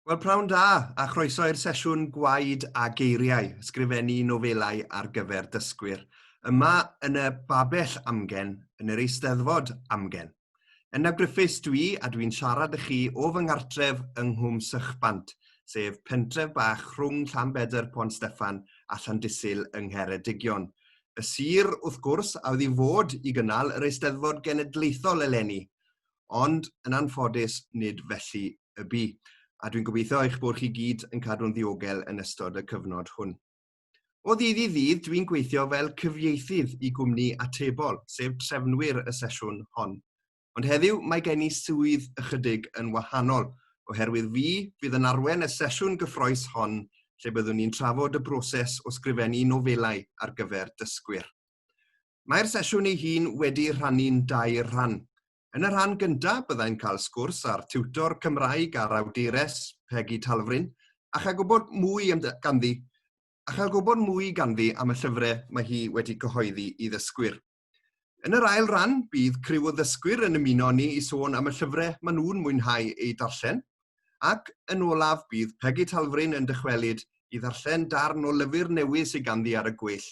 Wel, prawn da, a chroeso i'r sesiwn Gwaed a Geiriau, Ysgrifennu Nofelau ar gyfer Dysgwyr, yma yn y Babell Amgen, yn yr Eisteddfod Amgen. Yna Griffiths dwi a dwi'n siarad â chi o fy nghartref yng Nghwm Sychbant, sef pentref bach rhwng Llanbedr Pont Steffan a Llandysul yng Ngheredigion. Y sir, wrth gwrs, a oedd i fod i gynnal yr Eisteddfod Genedlaethol eleni. ond yn anffodus nid felly y bu, a dwi'n gobeithio eich bod chi gyd yn cadw'n ddiogel yn ystod y cyfnod hwn. O ddydd i ddydd, dwi'n gweithio fel cyfieithydd i gwmni atebol, sef trefnwyr y sesiwn hon. Ond heddiw, mae gen i swydd ychydig yn wahanol, oherwydd fi fydd yn arwen y sesiwn gyffroes hon lle byddwn ni'n trafod y broses o sgrifennu nofelau ar gyfer dysgwyr. Mae'r sesiwn ei hun wedi rhannu'n dair rhan. Yn y rhan gyntaf, byddai'n cael sgwrs â'r tiwtor Cymraeg a'r awdures, Pegi Talfryn, a chael gwybod mwy ganddi a chael gwybod mwy ganddi am y llyfrau mae hi wedi cyhoeddi i ddysgwyr. Yn yr ail ran, bydd criw o ddysgwyr yn ymuno ni i sôn am y llyfrau maen nhw'n mwynhau eu darllen, ac yn olaf bydd Pegi Talfryn yn dychwelyd i ddarllen darn o lyfr newydd sydd ganddi ar y gweill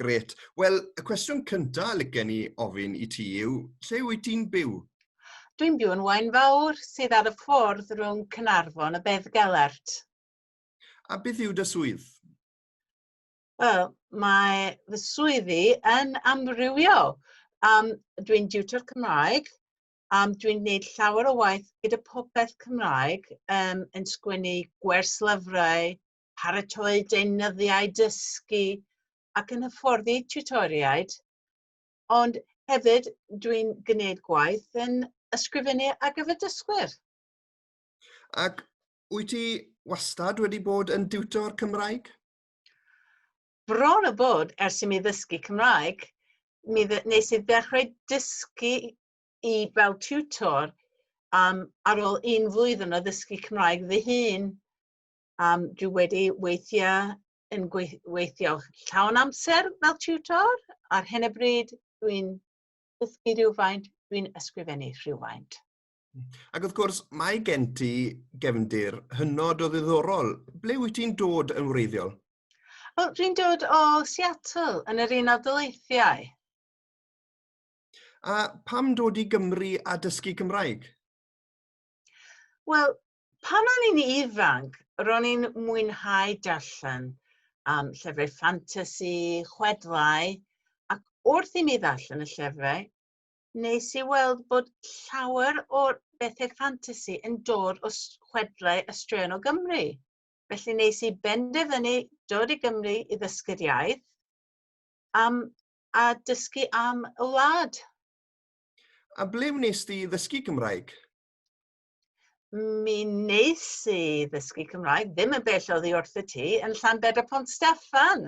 Gret. Wel, y cwestiwn cyntaf lygen ni ofyn i ti yw, lle wyt ti'n byw? Dwi'n byw yn Waen Fawr, sydd ar y ffordd rhwng Cynarfon a Beddgelert. A beth yw dy swydd? Wel, mae fy swyddi yn amrywiol. Um, dwi'n diwtor Cymraeg, um, dwi'n gwneud llawer o waith gyda popeth Cymraeg, um, yn sgwennu gwerslyfrau, paratoi deunyddiau dysgu ac yn hyfforddi tiwtoriaid, ond hefyd dwi'n gwneud gwaith yn ysgrifennu ar gyfer dysgwyr. Ac wyt ti wastad wedi bod yn diwtor Cymraeg? Bron o bod ers i mi ddysgu Cymraeg, mi nes i ddechrau dysgu i fel tiwtor um, ar ôl un flwyddyn o ddysgu Cymraeg fy hun. Um, dwi wedi weithio yn gweithio llawn amser fel tutor. Ar hyn y bryd, dwi'n dysgu rhywfaint, dwi'n ysgrifennu rhywfaint. Ac wrth gwrs, mae gen ti gefndir hynod o ddiddorol. Ble wyt ti'n dod yn wreiddiol? Wel, dwi'n dod o Seattle, yn yr Unol Daleithiau. A pam dod i Gymru a dysgu Cymraeg? Wel, Pan o'n i'n ifanc, ro'n i'n mwynhau darllen um, llyfrau ffantasi, chwedlau, ac wrth i mi ddarllen y llyfrau, nes i weld bod llawer o'r bethau ffantasi yn dod o chwedlau y straeon o Gymru. Felly nes i benderfynu dod i Gymru i ddysgu'r iaith um, a dysgu am y wlad. A ble wnes ti ddysgu Gymraeg? mi wnes i ddysgu Cymraeg, ddim yn bell oddi wrth y ti, yn Llanbedr Pont Steffan.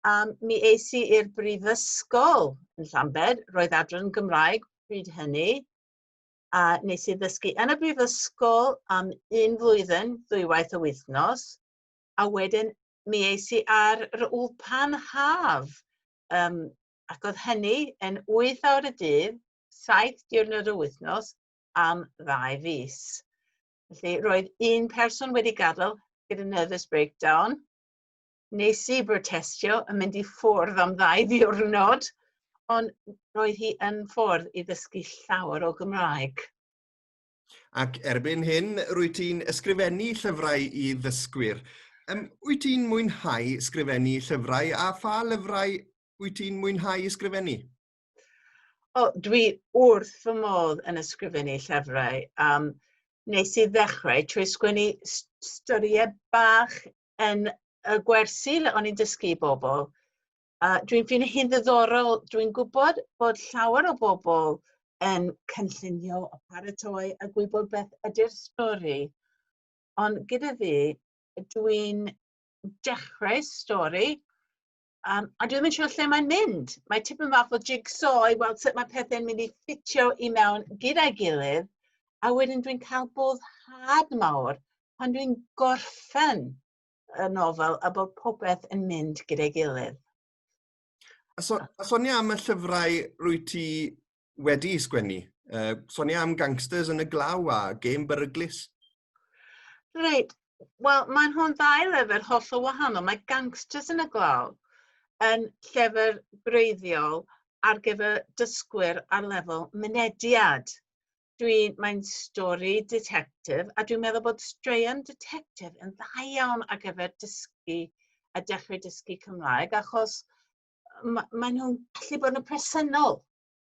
A mi eis i i'r brifysgol yn Llanbed, roedd adran Gymraeg pryd hynny, a nes i ddysgu yn y brifysgol am un flwyddyn, ddwywaith y wythnos, a wedyn mi eis i ar yr ulpan haf, um, ac oedd hynny yn 8 awr y dydd, 7 diwrnod y wythnos, am ddau fis. Felly, roedd un person wedi gadael gyda nervous breakdown. Nes i brotestio yn mynd i ffwrdd am ddau ddiwrnod, ond roedd hi yn ffwrdd i ddysgu llawer o Gymraeg. Ac erbyn hyn, rwy ti'n ysgrifennu llyfrau i ddysgwyr. Um, wyt ti'n mwynhau sgrifennu llyfrau a pha lyfrau wyt ti'n mwynhau ysgrifennu? O, dwi wrth fy modd yn ysgrifennu llyfrau. Um, nes i ddechrau trwy sgwennu storiau bach yn y gwersi le o'n i'n dysgu i bobl. Uh, dwi'n ffyn hi'n ddiddorol, dwi'n gwybod bod llawer o bobl yn cynllunio o paratoi a gwybod beth ydy'r stori. Ond gyda fi, dwi'n dechrau stori Um, a dwi'n mynd siŵr lle mae'n mynd. Mae tipyn fath o jigsaw i weld sut mae pethau'n mynd i ffitio i mewn gyda'i gilydd. A wedyn dwi'n cael boddhad mawr pan dwi'n gorffen y nofel a bod popeth yn mynd gyda'i gilydd. A, so, a sonia am y llyfrau rwy ti wedi sgwennu. Uh, sonia am gangsters yn y glaw a gêm beryglus. Reit, wel mae nhw'n ddau lyfr holl o wahanol. Mae gangsters yn y glaw yn llyfr greiddiol ar gyfer dysgwyr ar lefel mynediad. Dwi, mae'n stori detectif a dwi'n meddwl bod straeon detectif yn dda iawn ar gyfer dysgu a dechrau dysgu Cymraeg achos ma' mae nhw'n gallu bod yn presennol.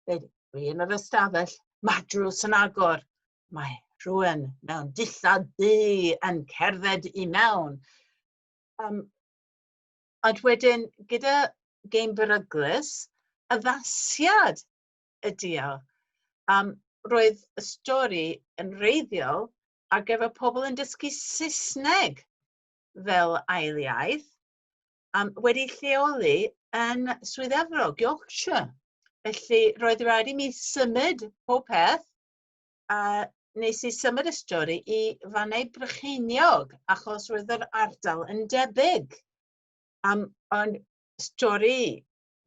Dweud, dwi yn yr ystafell, mae drws yn agor, mae rhywun mewn dillad du yn cerdded i mewn. Um, ond wedyn, gyda gêm beryglus, addasiad ydi o. Um, roedd y stori yn reiddiol ar gyfer pobl yn dysgu Saesneg fel ail iaith. um, wedi lleoli yn Swydd Efrog, Yorkshire. Felly roedd rhaid i mi symud pob peth a nes i symud y stori i Fannau Brycheiniog achos roedd yr ardal yn debyg. Um, ond stori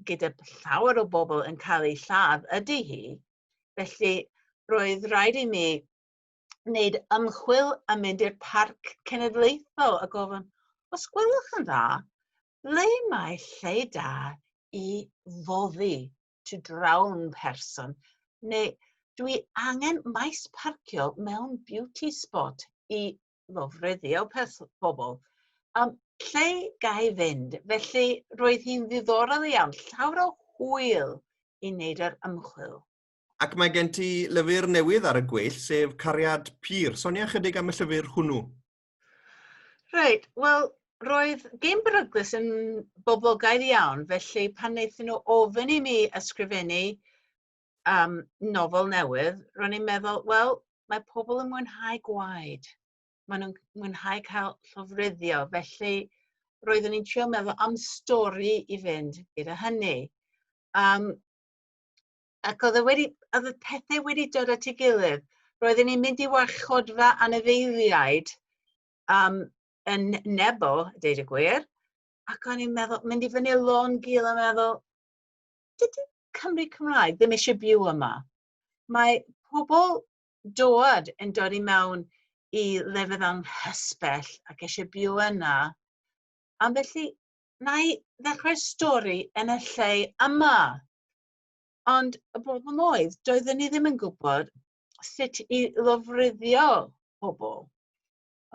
gyda llawer o bobl yn cael ei lladd ydy hi. Felly roedd rhaid i mi wneud ymchwil a mynd i'r parc cenedlaethol a gofyn, os gwelwch yn dda, ble mae lle da i foddi to drown person, neu dwi angen maes parcio mewn beauty spot i ddofreddio pobl. Um, lle gai fynd? Felly roedd hi'n ddiddorol iawn, llawr o hwyl i wneud yr ymchwil. Ac mae gen ti lyfr newydd ar y gweill, sef Cariad Pur. Sonia chydig am y llyfr hwnnw. Reit, wel, roedd Game Beryglus yn boblogaidd iawn, felly pan wnaethon nhw ofyn i mi ysgrifennu um, nofel newydd, ro'n i'n meddwl, wel, mae pobl yn mwynhau gwaed. Maen nhw'n mwynhau cael llofruddio, felly roeddwn i'n trio meddwl am stori i fynd gyda hynny. Um, ac oedd e wedi, oedd y pethau wedi dod at ei gilydd. Roedden ni'n mynd i warchodfa anifeiliaid um, yn Nebo, deud y gwir, ac o'n i'n meddwl, mynd i fyny lôn gil a meddwl, dydy Cymru Cymraeg ddim eisiau byw yma. Mae pobl dod yn dod i mewn i lefydd anghysbell ac eisiau byw yna. Am felly, na i ddechrau stori yn y lle yma. Ond y broblem oedd, doedden ni ddim yn gwybod sut i lofruddio pobl.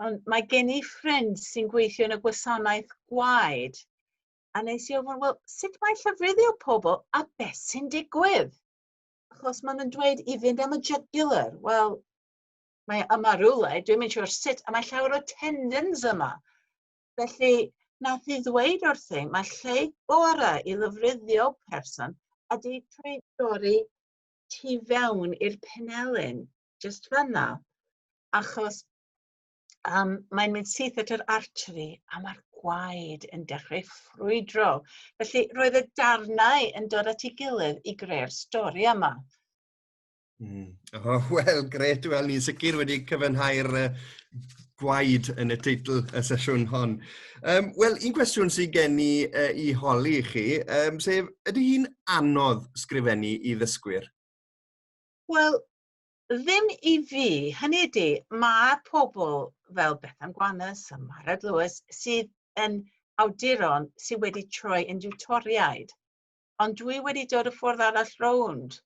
Ond mae gen i ffrind sy'n gweithio yn y gwasanaeth gwaed. A nes i ofyn, wel, sut mae llofruddio pobl a beth sy'n digwydd? Achos maen nhw'n dweud i fynd am y jugular. Wel, mae yma rhywle, dwi'n mynd siwr sut, a mae llawer o tendons yma. Felly, nath i ddweud wrthi, mae lle gore i lyfruddio person ydy trwy dorri tu fewn i'r penelin, just fanna. Achos um, mae'n mynd syth at yr artery a mae'r gwaed yn dechrau ffrwydro. Felly, roedd y darnau yn dod at ei gilydd i greu'r stori yma. Mm. Oh, Wel, gret. Wel, ni'n sicr wedi cyfynhau'r uh, gwaed yn y teitl y sesiwn hon. Um, Wel, un cwestiwn sy'n gen i uh, i holi chi, um, sef, ydy hi'n anodd sgrifennu i ddysgwyr? Wel, ddim i fi. Hynny ydy, mae pobl fel Bethan Gwanus a Marad Lewis sydd yn awduron sydd wedi troi yn diwtoriaid. Ond dwi wedi dod y ffordd arall rownd.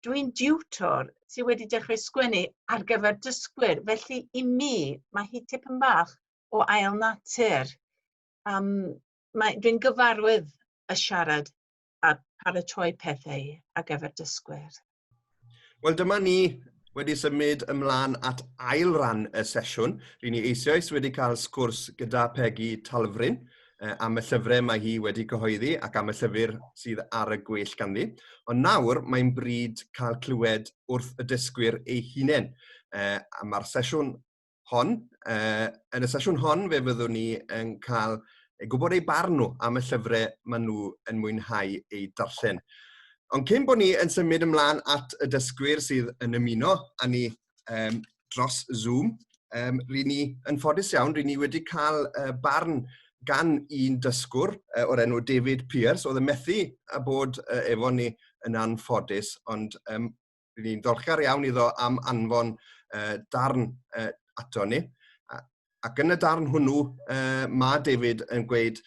dwi'n diwtor sydd wedi dechrau sgwennu ar gyfer dysgwyr, felly i mi mae hi tipyn bach o ail natur. Um, mae, dwi'n gyfarwydd y siarad a paratoi pethau ar gyfer dysgwyr. Wel, dyma ni wedi symud ymlaen at ail ran y sesiwn. Rydyn ni eisoes wedi cael sgwrs gyda Pegi Talfryn, uh, am y llyfrau mae hi wedi cyhoeddi ac am y llyfr sydd ar y gweill ganddi. Ond nawr mae'n bryd cael clywed wrth y dysgwyr ei hunain. Uh, a mae'r sesiwn hon, uh, yn y sesiwn hon fe fyddwn ni yn cael gwybod ei barn nhw am y llyfrau maen nhw yn mwynhau eu darllen. Ond cyn bod ni yn symud ymlaen at y dysgwyr sydd yn ymuno a ni um, dros Zoom. Um, Rydyn ni, yn ffodus iawn, rydyn ni wedi cael uh, barn gan un dysgwr uh, o'r enw David Pierce, oedd yn methu a bod uh, efo ni yn anffodus, ond um, rydyn ni'n dolchgar iawn iddo am anfon uh, darn uh, ato ni. Ac yn y darn hwnnw, uh, mae David yn gweud,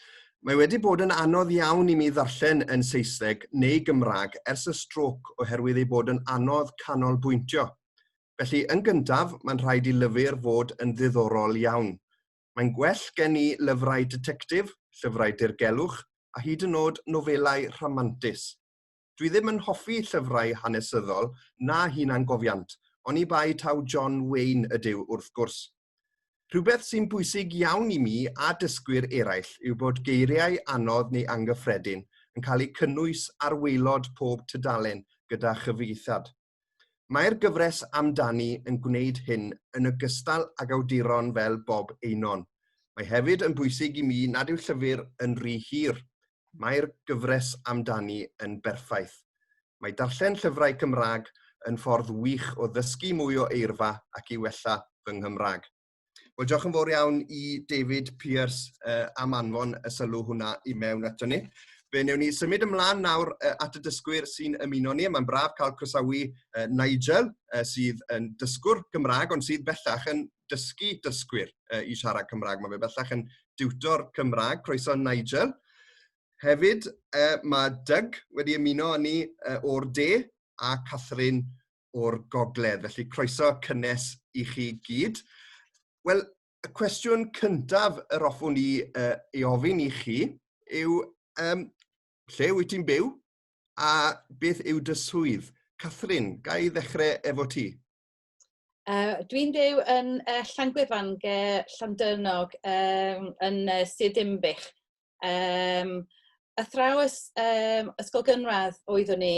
mae wedi bod yn anodd iawn i mi ddarllen yn Saesneg neu Gymraeg ers y stroc oherwydd ei bod yn anodd canolbwyntio. Felly, yn gyntaf, mae'n rhaid i lyfr fod yn ddiddorol iawn. Mae'n gwell gen i lyfrau detectif, llyfrau dirgelwch, a hyd yn oed nofelau rhamantus. Dwi ddim yn hoffi llyfrau hanesyddol na hunangofiant, oni bai taw John Wayne ydyw wrth gwrs. Rhywbeth sy'n bwysig iawn i mi a dysgwyr eraill yw bod geiriau anodd neu angyffredin yn cael eu cynnwys ar waelod pob tudalen gyda chyfieithad. Mae'r gyfres amdani yn gwneud hyn yn ogystal ag awduron fel Bob Eynon. Mae hefyd yn bwysig i mi nad yw llyfr yn rhy hir. Mae'r gyfres amdani yn berffaith. Mae darllen llyfrau Cymraeg yn ffordd wych o ddysgu mwy o eirfa ac i wella fy Nghymraeg. Wel, diolch yn fawr iawn i David Pierce uh, am anfon y sylw hwnna i mewn ato ni. Fe newn ni symud ymlaen nawr uh, at y dysgwyr sy'n ymuno ni. Mae'n braf cael croesawu uh, Nigel, uh, sydd yn dysgwr Gymraeg, ond sydd bellach yn dysgu dysgwyr uh, i siarad Cymraeg. Mae fe bellach yn diwtor Cymraeg. Croeso Nigel. Hefyd, uh, mae Doug wedi ymuno â ni uh, o'r de a Catherine o'r gogledd, felly croeso cynnes i chi gyd. Wel, y cwestiwn cyntaf yr offwn i uh, ei ofyn i chi yw, um, lle wyt ti'n byw a beth yw dy swydd? Catherine, ga i ddechrau efo ti? Uh, Dwi'n byw yn uh, Llangwefan, ge Llandyrnog, um, yn uh, Sir Dimbych. Um, athrawes um, ysgol gynradd oeddwn i,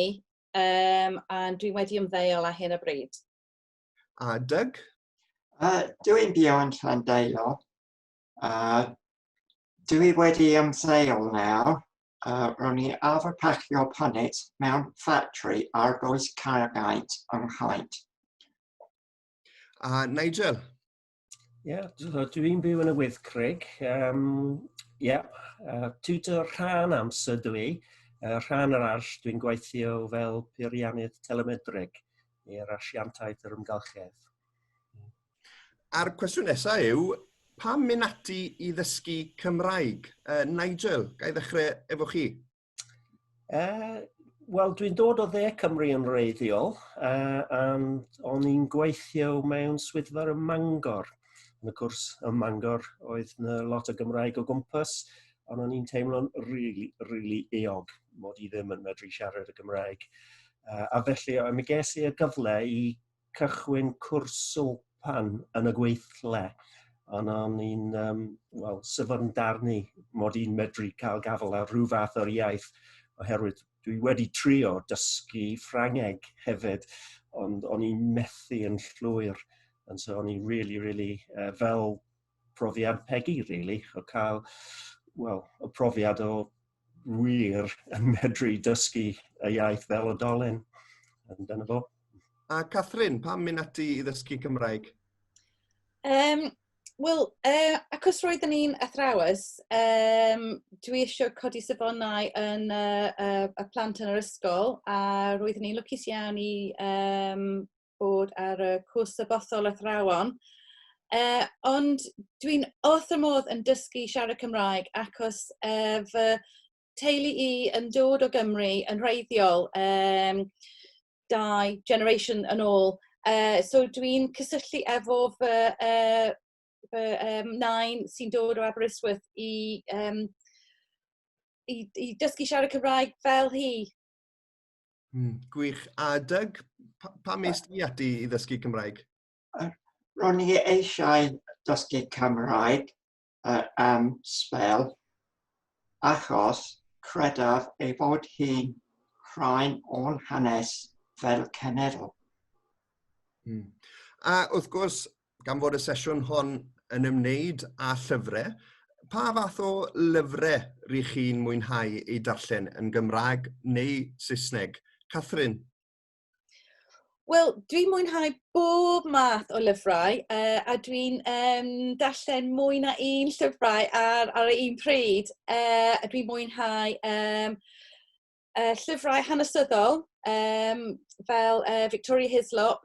Um, a dwi wedi ymddeol ar hyn o bryd. A Doug? Uh, dwi'n byw yn Llandeilo. Uh, dwi wedi ymddeol nawr. Uh, ro'n i arfer pacio punnet mewn ffatri ar goes cargaid yng Nghaid. A Nigel? Ie, so dwi'n byw yn y Wyddgrug. Um, Ie, yeah, uh, tutor rhan amser dw i. Uh, rhan arall dwi'n gweithio fel peiriannydd telemedrig i'r asiantaeth yr ymgylchedd. A'r cwestiwn nesaf yw, pam mynd ati i ddysgu Cymraeg? Uh, Nigel, ga i ddechrau efo chi? Uh, Wel, dwi'n dod o dde Cymru yn reiddiol, uh, and o'n i'n gweithio mewn swyddfa ym Mangor. Yn y cwrs ym Mangor oedd na lot o Gymraeg o gwmpas, ond o'n i'n teimlo'n really, really eog mod i ddim yn medru siarad y Gymraeg. Uh, a felly, mi ges i y gyfle i cychwyn cwrs swlpan yn y gweithle, ond o'n i'n um, well, syfyrdar ni mod i'n medru cael gafel ar rhyw fath o'r iaith, oherwydd dwi wedi trio dysgu Ffrangeg hefyd, ond o'n i'n methu yn llwyr, and so o'n i'n really, really, uh, fel profiad Peggy, really, o cael, well, y profiad o wir yn medru dysgu y iaith fel oedolyn. Yn dyna fo. A Catherine, pam mynd ati i ddysgu Cymraeg? Um, Wel, uh, acos roedd yn un athrawes, um, dwi eisiau codi safonau yn uh, uh, y plant yn yr ysgol a roedd yn un lwcus iawn i um, bod ar y cwrs sabothol athrawon. Uh, ond dwi'n wrth y modd yn dysgu siarad Cymraeg achos uh, fy teulu i yn dod o Gymru yn rheiddiol um, dau generation yn ôl. Uh, so dwi'n cysylltu efo fy, uh, fy um, nain sy'n dod o Aberystwyth i, um, i, i dysgu siarad Cymraeg fel hi. Mm, gwych. A Doug, pa, pa mes ti ati i ddysgu Cymraeg? Ro'n i eisiau dysgu Cymraeg uh, am spel achos credaf ei fod hi'n rhain o'n hanes fel cenedl. Mm. A wrth gwrs, gan fod y sesiwn hon yn ymwneud â llyfrau, pa fath o lyfrau rydych chi'n mwynhau eu darllen yn Gymraeg neu Saesneg? Catherine? Wel, dwi'n mwynhau bob math o lyfrau uh, a dwi'n um, darllen mwy na un llyfrau ar, ar un pryd. Uh, a dwi'n mwynhau um, uh, llyfrau hanesyddol um, fel uh, Victoria Hislop,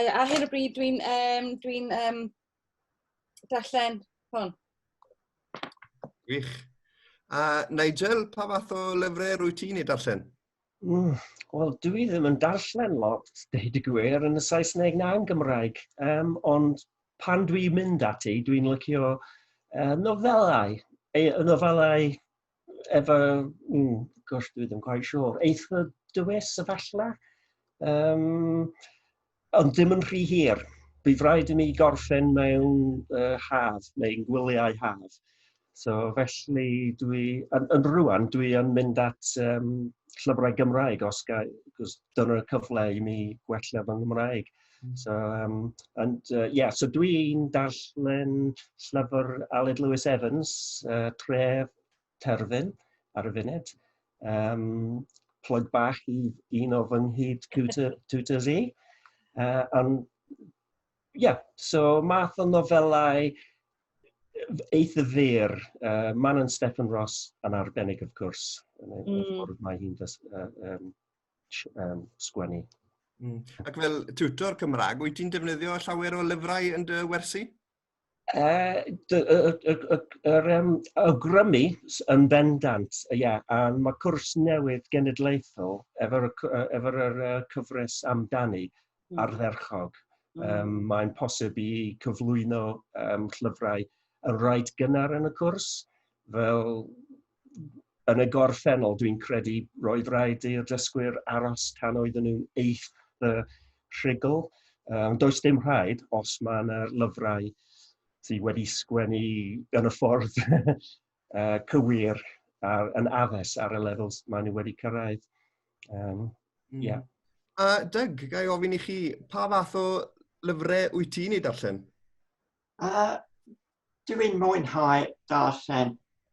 ar hyn o bryd dwi'n um, dwi um, darllen hwn. Gwych. A Nigel, pa fath o lyfrau rwy ti'n ei darllen? Mm, Wel, dw i ddim yn darllen lot, deud y gwir, yn y Saesneg na yn Gymraeg. Um, ond pan dwi'n mynd ati, dwi'n lycio uh, nofelau, y nofelau efo, mm, gosh, dwi ddim quite sure, eitha dywys efallai. Um, ond dim yn rhy hir. Bydd rhaid i mi gorffen mewn uh, haf, neu'n gwyliau haf. So felly dwi, yn, yn rwan, dwi yn mynd at um, llyfrau Gymraeg os gael, cos dyna'r cyfle i mi gwella fy Nghymraeg. So, um, and, uh, yeah, so dwi'n darllen llyfr Aled Lewis Evans, uh, Tref Terfyn, ar y funud. Um, plug bach i un o fy nghyd tutors i. Uh, and, yeah, so math o nofelau eitha fyr, uh, Man and Stephen Ross yn arbennig, of course, yn y mm. ffordd mae hi'n uh, um, um, sgwennu. Mm. Ac fel tutor Cymraeg, wyt ti'n defnyddio llawer o lyfrau yn dy wersi? Uh, yr um, awgrymu yn bendant, ia, yeah, a mae cwrs newydd genedlaethol efo'r efo uh, cyfres amdani mm. ardderchog. Mm. Um, mae'n posib i cyflwyno um, llyfrau yn rhaid gynnar yn y cwrs, fel yn y gorffennol, dwi'n credu roedd rhaid i'r dysgwyr aros tan oedden nhw'n eith y rhugl. Um, does dim rhaid os mae yna lyfrau sydd wedi sgwennu yn y ffordd uh, cywir ar, yn addes ar y lefels maen nhw wedi cyrraedd. Um, mm. yeah. A Doug, gai ofyn i chi, pa fath o lyfrau wyt ti'n ei darllen? A dw i'n mwynhau darllen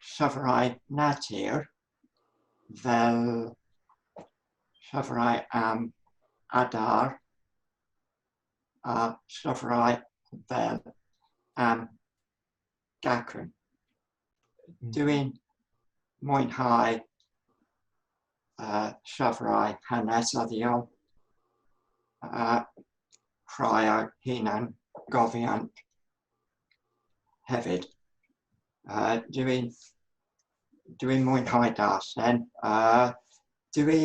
llyfrau natur fel llyfrau am adar a llyfrau fel am gacen. dwi'n mwynhau uh, llyfrau hanes a ddiol a rhai a hunan gofian hefyd. Uh, dwi'n dwi mwynhau darllen. Uh, dwi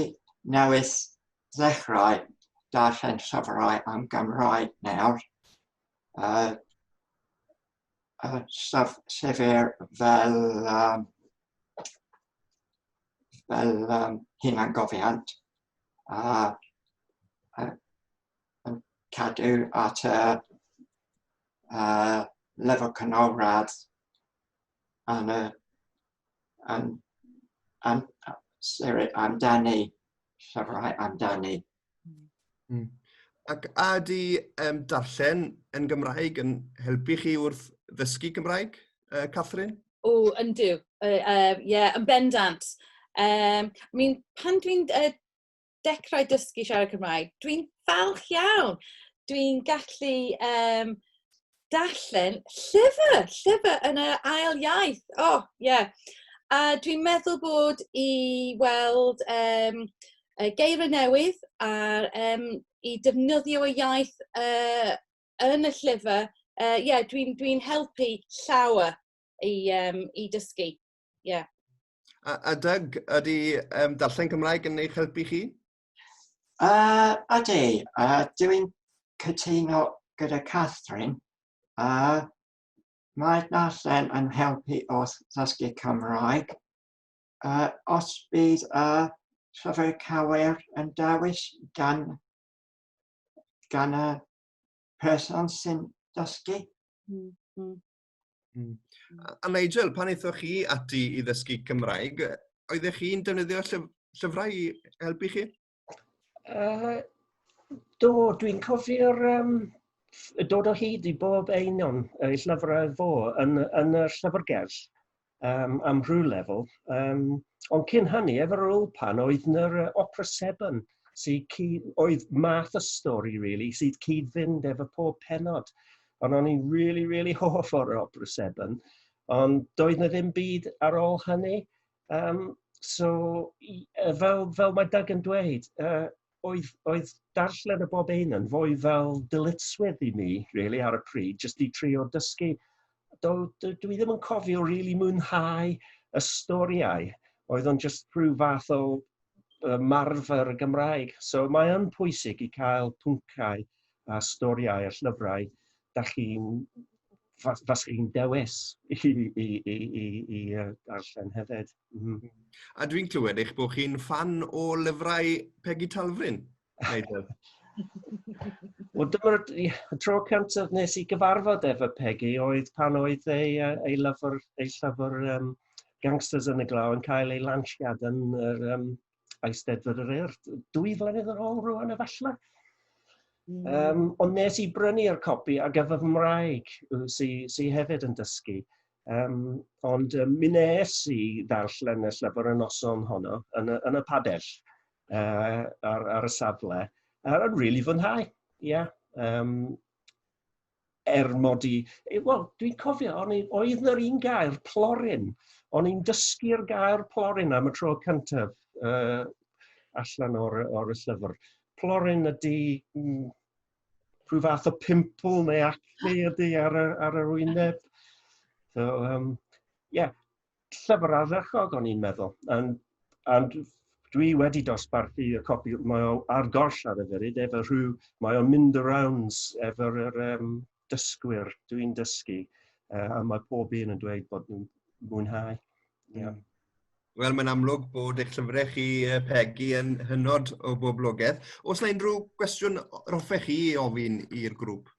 newydd ddechrau darllen llyfrau am Gymraeg nawr. Uh, uh, sef, sefyr fel, um, fel um, hunan gofiant a uh, yn cadw at y uh, lefel canolradd yn y am, am, sorry, amdani, llyfrau amdani. Mm. Ac a di um, darllen yn Gymraeg yn helpu chi wrth ddysgu Gymraeg, uh, Catherine? O, yndw. Ie, uh, uh, yeah, yn bendant. Um, I mean, pan dwi'n uh, dechrau dysgu siarad Cymraeg, dwi'n falch iawn. Dwi'n gallu um, darllen llyfr, llyfr yn y ail iaith. O, oh, ie. Yeah. A dwi'n meddwl bod i weld um, geirfa newydd a um, i defnyddio y iaith uh, yn y llyfr, uh, yeah, dwi'n dwi helpu llawer i, um, i dysgu. ie. Yeah. A, a Doug, ydy um, darllen Cymraeg yn eich helpu chi? Uh, a de, uh, dwi'n cytuno gyda Catherine, a uh, mae darllen yn helpu wrth ddysgu Cymraeg. Uh, os bydd y uh, llyfr cawer yn dewis gan, gan y person sy'n dysgu, mm -hmm. Hmm. A Nigel, pan eithoch chi ati i ddysgu Cymraeg, oeddech chi'n defnyddio llyf llyfrau i helpu chi? Uh, do, dwi'n cofio'r um, dod o hyd i bob un o'n llyfrau fo yn, yn y llyfrgell. um, am rhyw lefel. Um, ond cyn hynny, efo'r Ulpan, oedd nyr uh, Opera Seven, sydd cyd, oedd math y stori, really, sydd cyd-fynd efo pob penod. Ond o'n i'n really, really hoff o'r Opera Seven. Ond doedd na ddim byd ar ôl hynny. Um, so, fel, fel mae Doug yn dweud, uh, oedd, oedd darllen y bob ein yn fwy fel dyletswydd i mi, really, ar y pryd, jyst i trio dysgu. Do, do, dwi ddim yn cofio rili really mwynhau y storiau. Oedd o'n jyst rhyw fath o uh, marfer y Gymraeg. So mae yn pwysig i cael pwncau a storïau a llyfrau dach chi'n... fas- faswch chi'n dewis i i i i i yy darllen hefyd. M-hm. A dwi'n clywed eich bod chi'n ffan o lyfrau Pegi Talfryn, Nigel? Wel dyma'r tro cyntaf nes i gyfarfod efo Pegi oedd pan oedd ei yy ei lyfr ei llyfr yym Gangsters yn y Glaw yn cael ei lansiad yn yr yym Eisteddfod yr Urdd dwy flynedd yn ôl rwan efallai. Mm. Um, ond nes i brynu'r copi ar gyfer fy mraig sy'n sy hefyd yn dysgu. Um, ond um, mi nes i ddarllen y llyfr y noson honno yn y, yn y padell uh, ar, ar y safle. A'n rili really fwynhau, ie. Yeah. Um, er mod i, eh, wel, dwi'n cofio, o'n i, oedd na'r un gair, plorin. O'n i'n dysgu'r gair plorin am y tro cyntaf uh, allan o'r, or y llyfr. Plorin ydy mm, rhyw fath o pimpl neu acne ydy ar, ar yr wyneb. So, um, yeah. llyfr ardderchog o'n i'n meddwl, and, and dwi wedi dosbarthu y copi, mae o ar goll ar y funud, efo rhyw, mae o'n mynd y rounds efo'r er, um, dysgwyr, dwi'n dysgu, uh, a mae pob un yn dweud bod nhw'n mwynhau. Yeah. Mm. Wel, mae'n amlwg bod eich llyfrau chi, Peggy, yn hynod o boblogaeth. Os yna unrhyw gwestiwn roffech chi ofyn i'r grŵp?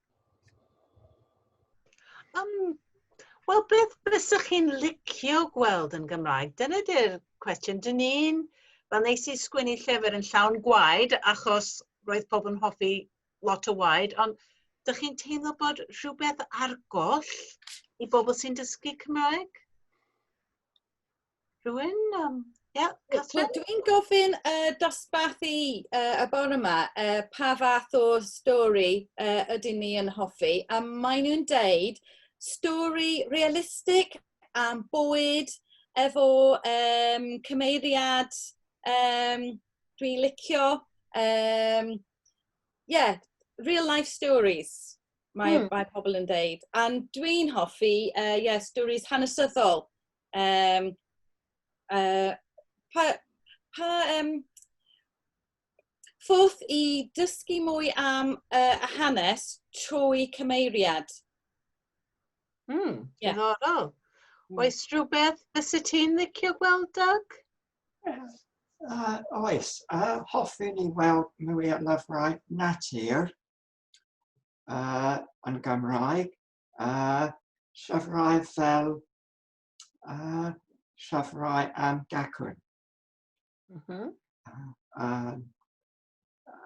Um, Wel, beth bysych chi'n licio gweld yn Gymraeg? Dyna di'r cwestiwn. Dyn ni'n, fel nes i sgwini llyfr yn llawn gwaed, achos roedd pobl yn hoffi lot o waed, ond dych chi'n teimlo bod rhywbeth ar goll i bobl sy'n dysgu Cymraeg? Rwy'n, um, yeah, Catherine? So, dwi'n gofyn uh, dosbarthu uh, y bore yma uh, pa fath o stori uh, ydyn ni yn hoffi, a maen nhw'n deud stori realistig am bwyd efo um, cymeiriad um, dwi'n licio. Um, yeah, real life stories mae, hmm. mae pobl yn deud. A dwi'n hoffi, uh, yeah, stories hanesyddol Yym yy pa pa yym ffordd i dysgu mwy am yy y hanes trwy cyfeiriad? Hmm. Ie. Diddorol. Hmm. Oes rhywbeth fyset ti'n licio gweld Doug? Uh, oes, uh, hoffwn i weld mwy o lyfrau natur uh, yn Gymraeg, uh, llyfrau fel a llyfrau am gacwn. Mm -hmm. a,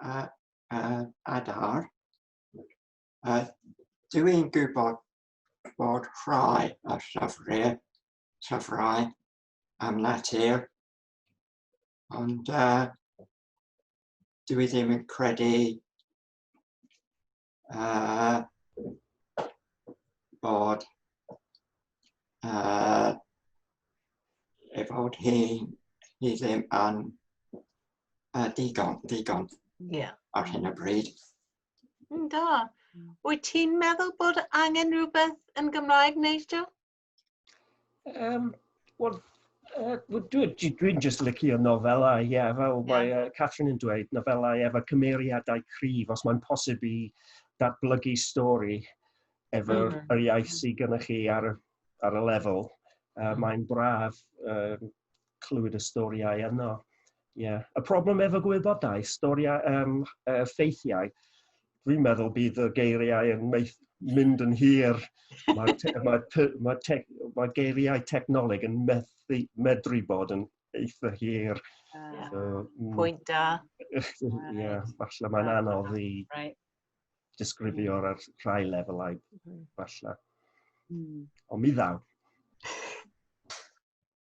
a, a, adar. A dw i'n gwybod bod rhai o llyfrau, llyfrau am natur, ond uh, dw i ddim yn credu uh, bod uh, ei fod hi, hi ddim yn uh, digon, digon yeah. ar hyn o bryd. Mm, da. Wyt ti'n meddwl bod angen rhywbeth yn Gymraeg, Nigel? Um, Wel, uh, dwi'n dwi, dwi just licio nofelau, ie, yeah, fel yeah. mae uh, Catherine yn dweud, nofelau efo cymeriadau cryf, os mae'n posib i datblygu stori efo mm -hmm. yr iaith sydd gennych chi ar, ar y lefel. Uh, mm. Mae'n braf uh, clywed y storiau yno. Yeah. Y problem efo gwybodaeth, storiau, um, uh, ffeithiau, dwi'n meddwl bydd y geiriau yn meith, mynd yn hir. Mae te, ma te, ma te, ma geiriau technoleg yn methu, medru bod yn eitha hir. Uh, so, mm. pwynt da. Ie, yeah, falle mae'n anodd i right. disgrifio ar rhai lefelau, mm-hmm. falle. Mm. Ond mi ddaw.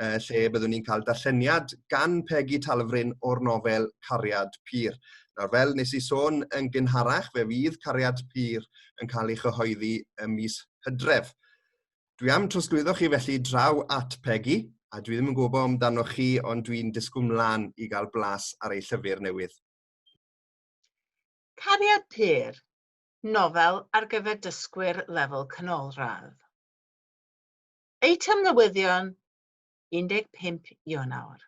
uh, lle byddwn ni'n cael darlleniad gan Pegi Talfryn o'r nofel Cariad Pyr. Nawr, fel nes i sôn yn gynharach, fe fydd Cariad Pyr yn cael ei chyhoeddi ym mis hydref. Dwi am trosglwyddo chi felly draw at Pegi, a dwi ddim yn gwybod amdanoch chi, ond dwi'n disgwyl mlaen i gael blas ar ei llyfr newydd. Cariad Pyr, nofel ar gyfer dysgwyr lefel canolradd. Eitem newyddion 15 Ionawr.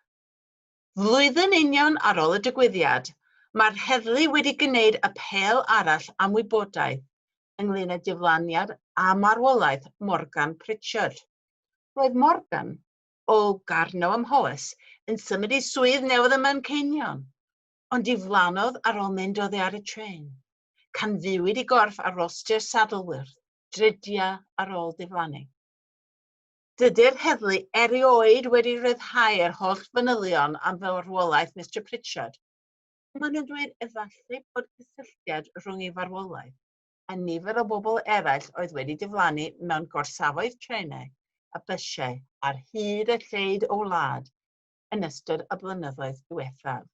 Flwyddyn union ar ôl y digwyddiad, mae'r heddlu wedi gwneud apêl arall am wybodaeth ynglŷn â diflaniad a marwolaeth Morgan Pritchard. Roedd Morgan, o Garnow ym Mhowys, yn symud i swydd newydd ym Manceinion, ond diflannodd ar ôl mynd oddi ar y trên. Canfuwyd i gorff ar rostr Saddleworth. dridiau ar ôl diflannu. Dydy'r heddlu erioed wedi rhyddhau'r holl fanylion am farwolaeth Mister Pritchard, ond maen nhw'n dweud efallai bod cysylltiad rhwng ei farwolaeth a nifer o bobl eraill oedd wedi diflannu mewn gorsafoedd trenau a bysiau ar hyd a lled y wlad yn ystod y blynyddoedd diwethaf.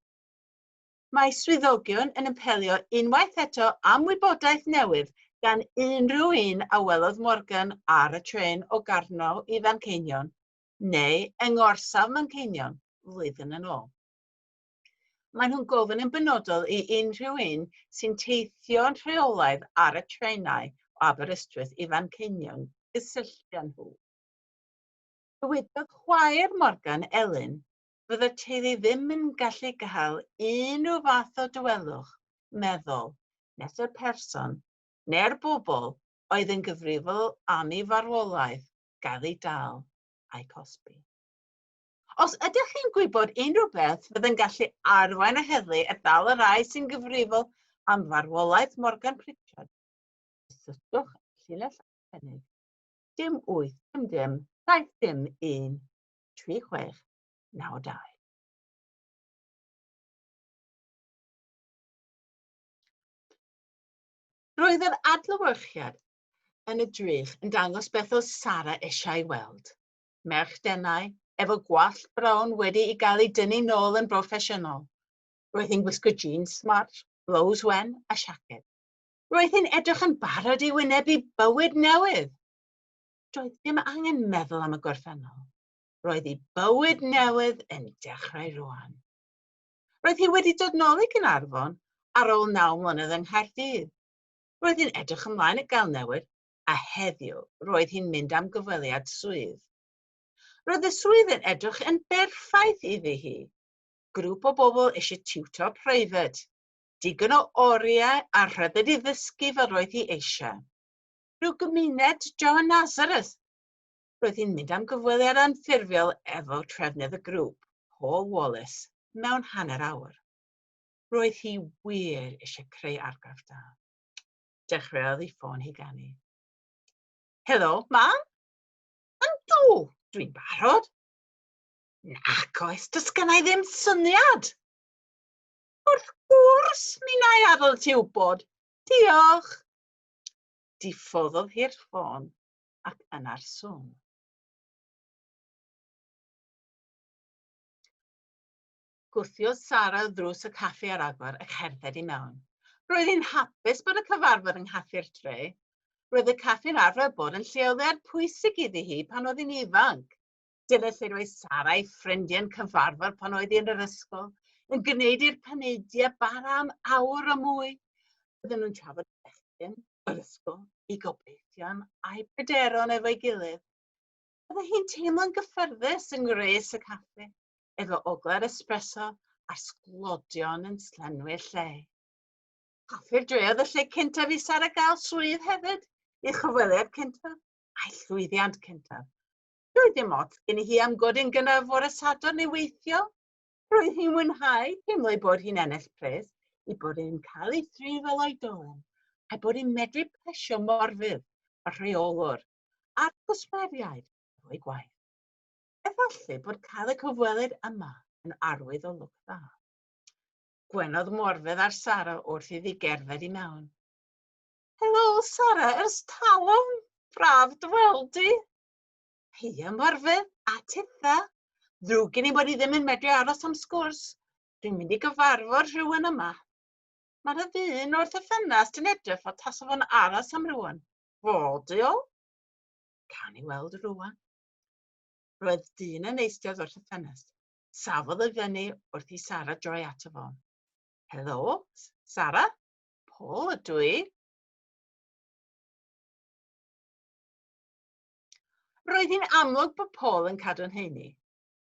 Mae swyddogion yn apelio unwaith eto am wybodaeth newydd gan unrhyw un a welodd Morgan ar y trên o Garnow i Fanceinion, neu yng ngorsaf Manceinion, flwyddyn yn ôl. Maen nhw'n gofyn yn benodol i unrhyw un sy'n teithio'n rheolaidd ar y trenau o Aberystwyth i Fanceinion gysylltu â nhw. Dywedodd chwaer Morgan, Elin, fydde'r teulu ddim yn gallu cael unrhyw fath o dawelwch meddwl nes y person neu'r bobl oedd yn gyfrifol am ei farwolaeth gael ei dal a'i cosbi. Os ydych chi'n gwybod unrhyw beth fydd yn gallu arwain y heddlu at ddal y rhai sy'n gyfrifol am farwolaeth Morgan Pritchard, cysylltwch â llinell arbennig dim wyth dim dim saith dim un 3692. Roedd yr adlewyrchiad yn y drych yn dangos beth oedd Sara eisiau ei weld. Merch denau, efo gwallt brown wedi ei gael ei dynnu nôl yn broffesiynol. Roedd hi'n gwisgo jeans smart, blows wen a siaced. Roedd hi'n edrych yn barod i wynebu bywyd newydd. Doedd dim angen meddwl am y gorffennol. Roedd ei bywyd newydd yn dechrau rwan. Roedd hi wedi dod nôl i Gynarfon ar ôl naw mlynedd yng Nghaerdydd. Roedd hi'n edrych ymlaen i gael newid a heddiw roedd hi'n mynd am gyfweliad swydd. Roedd y swydd yn edrych yn berffaith iddi hi. Grŵp o bobl eisiau tiwtor preifat, digon o oriau a rhyddid i ddysgu fel roedd hi eisiau. Rhyw gymuned John Nazareth. Roedd hi'n mynd am gyfweliad anffurfiol efo trefnydd y grŵp, Paul Wallace, mewn hanner awr. Roedd hi wir eisiau creu argraff da. Dechreuodd ei ffôn hi ganu. Helo, mam? Yndw, dwi'n barod. Nac oes, does gen i ddim syniad. Wrth gwrs, mi'n ai adael ti wybod. Diolch. Diffoddodd hi'r ffôn ac yna'r swn. Gwthiodd Sara o ddrws y caffi ar agor a cherdded i mewn. Roedd hi'n hapus bod y cyfarfod yng nghaffi'r dre. Roedd y caffi'n arfer bod yn lle oddi ar pwysig iddi hi pan oedd hi'n ifanc. Dyna lle roedd Sara a'i ffrindiau'n cyfarfod pan oedd hi yn yr ysgol, yn gwneud i'r paneidiau bara am awr o mwy. Oedden nhw'n trafod bechgyn yr ysgol, ei gobeithion a'i pryderon efo'i gilydd. Oedd hi'n teimlo'n gyffyrddus yng ngwres y caffi, efo ogla'r espresso a'r sglodion yn slenwi'r lle. Caffi'r dre oedd y lle cyntaf i Sara gael swydd hefyd, ei chyfweliad cyntaf a'i llwyddiant cyntaf. Roedd dim ots gen i hi am godyn gynnar fore Sadwrn neu weithio. Roedd hi'n mwynhau teimlo ei bod hi'n ennill pres, ei bod e'n cael ei thrin fel oedolyn, a'i bod hi'n medru plesio morfydd y rheolwr a'r cwsmeriaid efo'i gwaith. Efallai bod cael y cyfwelydd yma yn arwydd o lwc dda. Gwenodd Morfydd ar Sara wrth iddi gerdded i mewn. Helo, Sara, ers talwm! Braf dy weld di! Heia Morfydd a Titha. Ddrwg gen i bod i ddim yn medru aros am sgwrs. Dwi'n mynd i gyfarfod rhywun yma. Mae'r ddyn wrth y ffenast yn edrych fod tas o'n aros am rhywun. Fodiol? Cawn ni weld rhywun. Roedd dyn yn eistedd wrth y ffenast. Safodd ei fyny wrth i Sara droi ato fo. Helo, Sara. Paul ydw i. Roedd hi'n amlwg bod Paul yn cadw'n heini.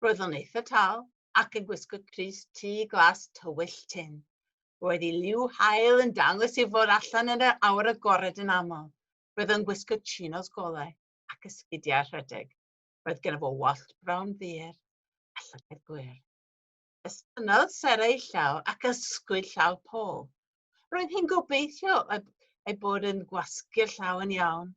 Roedd o'n eitha tal ac yn gwisgo crys tu glas tywyll tin. Roedd ei liw hael yn dangos ei fod allan yn yr awr agored yn aml. Roedd o'n gwisgo chinos golau ac ysgidiau rhedeg. Roedd gen fo wallt brown ddur a llygaid gwyr. Estynnodd Sarah ei llaw ac ysgwyd llaw Paul. Roedd hi'n gobeithio ei bod yn gwasgu'r llaw yn iawn,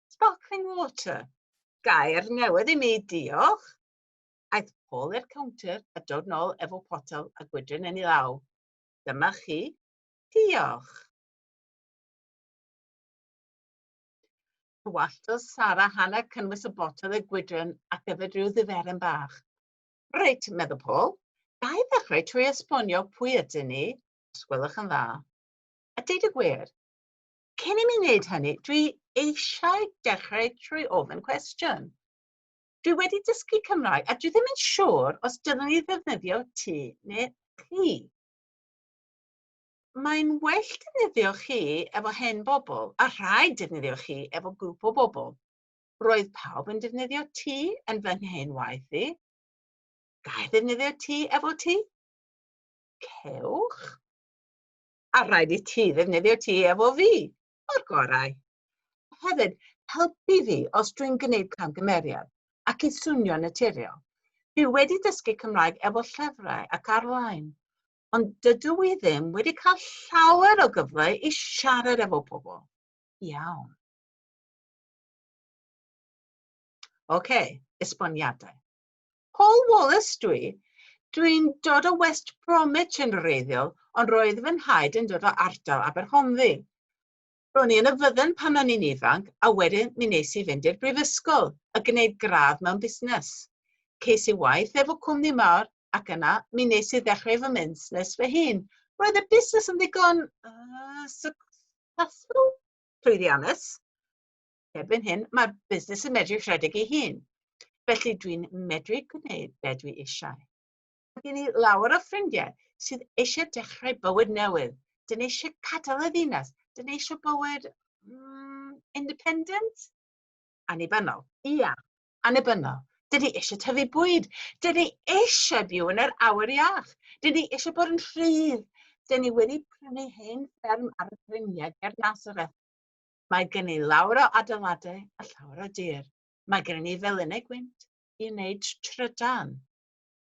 Sparkling water. Gair newydd i mi, diolch. Aeth Paul i'r counter a dod nôl efo potel a gwydryn yn ei law. Dyma chi. Diolch. Tywalltodd Sara Hannah cynnwys y botel y gwydryn ac yfed rhyw ddiferen bach. Reit, meddwl Paul, ga i ddechrau trwy esbonio pwy ydyn ni, os gwelwch yn dda. A deud y gwir, cyn i mi wneud hynny, dwi eisiau dechrau trwy ofyn cwestiwn. Dwi wedi dysgu Cymraeg a dwi ddim yn siŵr os dylwn i ddefnyddio ti neu chi. Mae'n well defnyddio chi efo hen bobl a rhaid defnyddio chi efo grŵp o bobl. Roedd pawb yn defnyddio ti yn fy nghyn waith i. Gael defnyddio ti efo ti? Cewch? a rhaid i ti ddefnyddio ti efo fi, o'r gorau. Hefyd, helpu fi os dwi'n gwneud camgymeriad ac i swnio naturiol. Dwi wedi dysgu Cymraeg efo llyfrau ac ar-lein, ond dydw i ddim wedi cael llawer o gyfle i siarad efo pobl. Iawn. OK, esboniadau. Paul Wallace dw i. Dw i'n dod o West Bromwich yn wreiddiol, ond roedd fy nhaid yn dod o ardal Aberhonddu. Ro'n i yn y fydden pan o'n i'n ifanc a wedyn mi nes i fynd i'r brifysgol a gwneud gradd mewn busnes. Ces i waith efo cwmni mawr ac yna mi nes i ddechrau fy musnes fy hun. Roedd y busnes yn ddigon yy successful? Llwyddiannus. Erbyn hyn, mae'r busnes yn medru rhedeg ei hun. Felly dwi'n medru gwneud be dwi eisiau. Mae gen i lawer o ffrindiau sydd eisiau dechrau bywyd newydd. Dyn ni eisiau cadael y ddinas. Dyn ni eisiau bywyd mm, independent? Annibynnol. Ia, annibynnol. Dyn ni eisiau tyfu bwyd. Dyn ni eisiau byw yn yr awyr iach. Dyn ni eisiau bod yn rhydd. Dyn ni wedi prynu hen fferm ar y ffriniau ger Nazareth. Mae gen i lawr o adeiladau a llawer o dir. Mae gen i felinau gwynt i wneud trydan.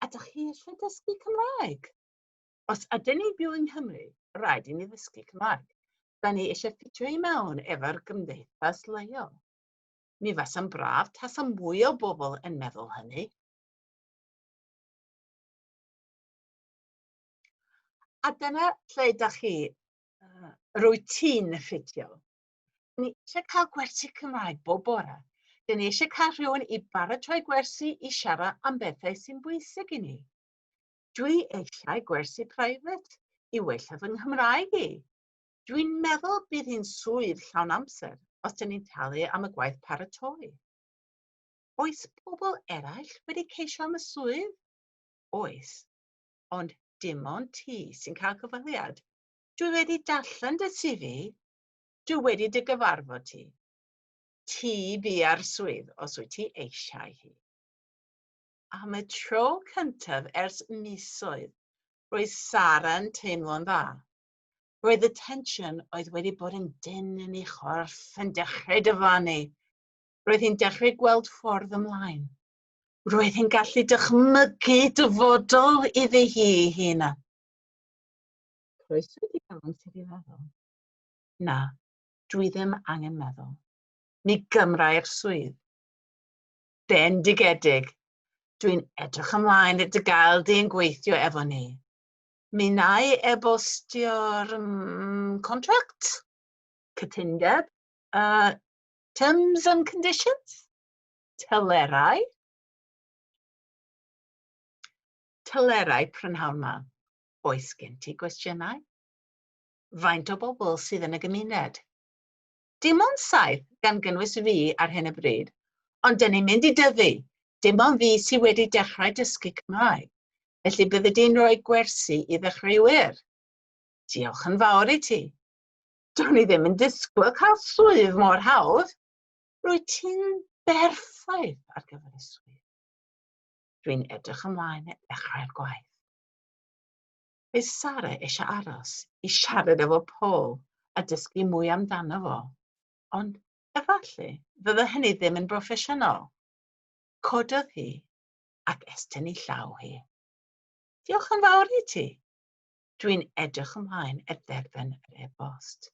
A dach chi eisiau dysgu Cymraeg? Os ydyn ni'n byw yng Nghymru, rhaid i ni ddysgu Cymraeg. Da ni eisiau ffitio i mewn efo'r gymdeithas leol. Mi fasa'n braf tasa mwy o bobl yn meddwl hynny. A dyna lle dach chi, uh, routine ffitio. Ni eisiau cael gwersi Cymraeg bob bore. Dyn ni eisiau cael rhywun i baratoi gwersi i siarad am bethau sy'n bwysig i ni. Dwi eisiau gwersi private i wella fy Nghymraeg i. Dwi'n meddwl bydd hi'n swydd llawn amser os dyn ni'n talu am y gwaith paratoi. Oes pobl eraill wedi ceisio am y swydd? Oes. ond dim ond ti sy'n cael cyfweliad. Dwi wedi darllen dy CV, dwi wedi dy gyfarfod ti. Ti bia'r swydd os wyt ti eisiau hi. Am y tro cyntaf ers misoedd, roedd Sara'n teimlo'n dda. Roedd y tensiwn oedd wedi bod yn dyn yn ei chorff yn dechrau dyfanu. Roedd hi'n dechrau gweld ffordd ymlaen. Roedd hi'n gallu dychmygu dyfodol iddi hi hyn. Croeso i gael sydd i feddwl. Na, dwi ddim angen meddwl. Mi gymrai'r swydd. Bendigedig. Dwi'n edrych ymlaen i dy gael di yn gweithio efo ni. Mi nai e-bostio'r mm, contract, cytundeb, uh, terms and conditions? telerau, telerau prynhawn ma. Oes gen ti gwestiynau? Faint o bobl sydd yn y gymuned? Dim ond saith gan gynnwys fi ar hyn y bryd, ond dyn ni'n mynd i dyfu. Dim ond fi sydd wedi dechrau dysgu Cymraeg, felly bydde di'n rhoi gwersi i ddechreuwyr. Diolch yn fawr i ti. Do'n i ddim yn disgwyl cael swydd mor hawdd. Rwyt ti'n berffaith ar gyfer y swydd. Dwi'n edrych ymlaen at ddechrau'r gwaith. Bydd Sara eisiau aros i siarad efo Paul a dysgu mwy amdano fo, ond efallai fydde hynny ddim yn broffesiynol. Cododd hi ac estyn ei llaw hi. Diolch yn fawr i ti. Dwi'n edrych ymlaen at dderfyn yr e-bost.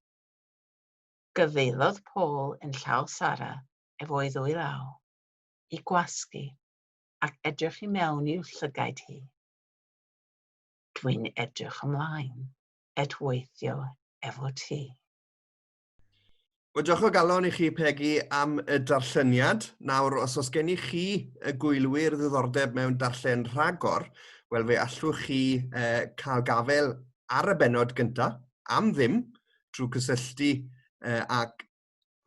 Gyfeilodd Paul yn llaw Sara ef o'i ddwy law, i gwasgu, ac edrych i mewn i'w llygaid hi. Dwi'n edrych ymlaen et weithio efo ti. Wel, diolch o galon i chi, Pegi, am y darlleniad. Nawr, os oes gen i chi, y gwylwyr, ddiddordeb mewn darllen rhagor, wel, fe allwch chi eh, cael gafel ar y benod gyntaf, am ddim, trwy gysylltu uh, ag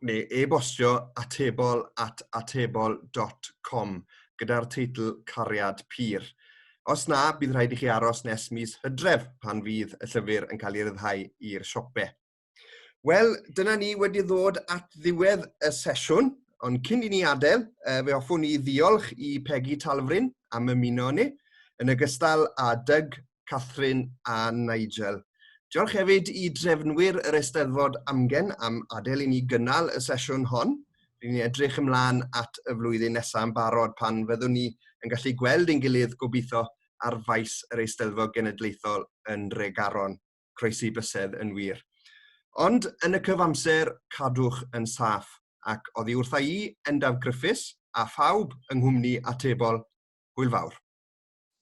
neu e-bostio atebol at atebol.com gyda'r teitl Cariad Pur. Os na, bydd rhaid i chi aros nes mis hydref pan fydd y llyfr yn cael ei ryddhau i'r siopau. Wel, dyna ni wedi ddod at ddiwedd y sesiwn, ond cyn i ni adael, uh, fe hoffwn i ddiolch i Peggy Talfrin am ymuno ni, yn ogystal â Doug Catherine a Nigel. Diolch hefyd i drefnwyr yr Eisteddfod Amgen am adael i ni gynnal y sesiwn hon. Rydyn ni'n edrych ymlaen at y flwyddyn nesaf yn barod pan fyddwn ni yn gallu gweld ein gilydd gobeithio ar faes yr Eisteddfod Genedlaethol yn Regaron. Croesi bysedd yn wir. Ond yn y cyfamser, cadwch yn saff, ac oddi wrtha i, Endaf Griffiths, a phawb yng nghwmni atebol, hwyl fawr.